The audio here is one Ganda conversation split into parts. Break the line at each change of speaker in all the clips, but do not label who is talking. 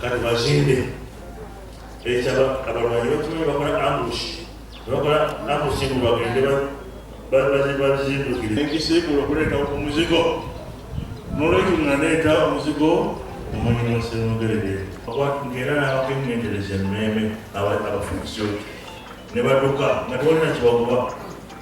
kati bazinde ekyaba abalwanyi bakimanyi bakola ambush bakola ambush mbu bagende bazindukire ekiseegula okuleeta ku muzigo nolwekyo naleeta omuzigo omulimo semugerere ngera nabakengendereza emmeeme abafukisyo ne baduka nga tewalina kibagoba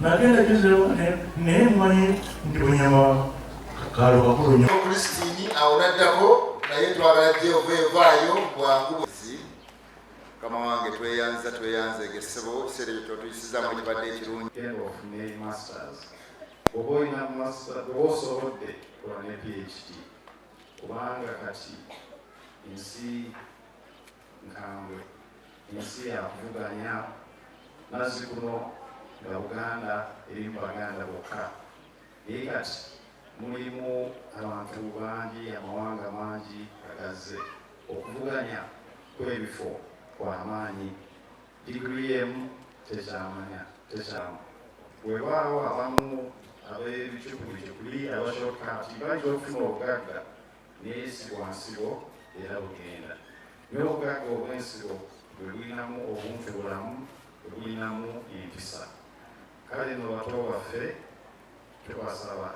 nagenda gezewo naye mumanyi nti bunyama kalo kakulu nyo kristini awo
naddako naye twagala jehova evaayo bwangu buzi kama wange tweyanza tweyanza egesebo ekiseera ekyo twatuyisizamu ekibadde ekirungi oba
olina master oba osobodde kola ne phd kubanga kati ensi nkambwe ensi yakuvuganya mazzi kuno nga buganda eri mu baganda bokka naye kati mulimu abantu bangi amawanga mangi agazze okuvuganya kwebifo kwamaanyi digiri emu tekyamanya tekyamu wewaawo abamu ab'ebicukulicukuli abashortcut bayinza okufuna obugagga naye si bwa nsigo era bugenda naye obugagga obw'ensigo bwe bulinamu obuntu bulamu bwe bulinamu empisa kale no bato baffe tubasaba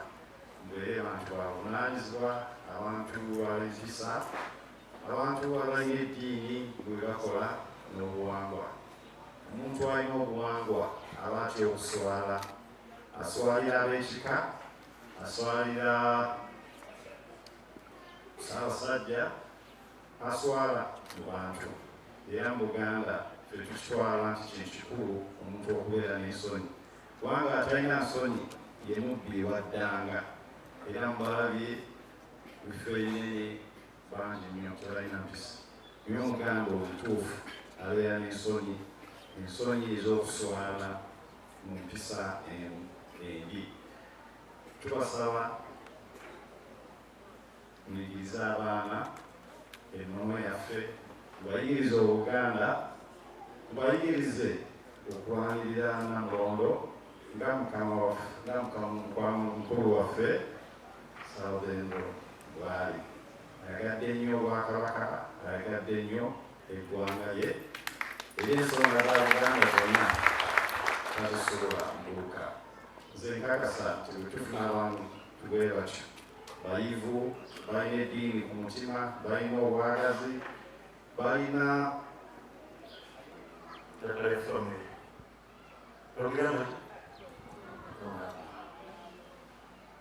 mbeere bantu babunaanyizibwa abantu ab'empisa abantu abalina eddiini bwe bakola n'obuwangwa omuntu alina obuwangwa aba atya okuswala aswalira ab'ekika aswalira ssaabasajja aswala mu bantu era mu buganda tetukitwala nti kintu kikulu omuntu okubeera n'ensonyi kubanga atalina nsonyi ye mubbi waddanga era mubalabye bifo ebinene bangi nnyo tebalina mpisa naye omuganda omutuufu abeera n'ensonyi ensonyi ez'okuswala mu mpisa emu embi tubasaba muyigirize abaana ennono yaffe mubayigirize obuganda mubayigirize okulwanirira namulondo nga mukama waffe nga mukama mukulu waffe salvendo bwali ayagadde nnyo obwakabaka ayagadde nnyo eggwanga lye eri ensonga za Buganda zonna tazisobola mbuuka nze nkakasa nti bwetufuna abantu tubwe batyo bayivu balina eddiini ku mutima balina obwagazi balina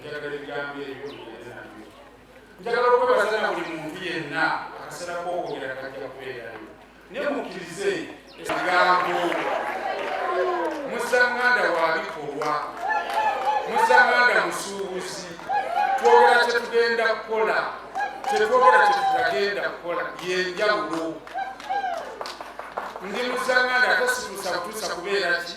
njagala ebigambo ebyo bigende nabyo njagala okwebaza na buli muntu yenna akaseera kokwogera kajja kubeerayo naye mukkirize ekigambo musanganda wa bikolwa musanganda musuubuzi twogera kyetugenda kukola kyetwogera kyetutagenda kukola yenjawulo ndi musanganda ate simusakutusa kubeera ki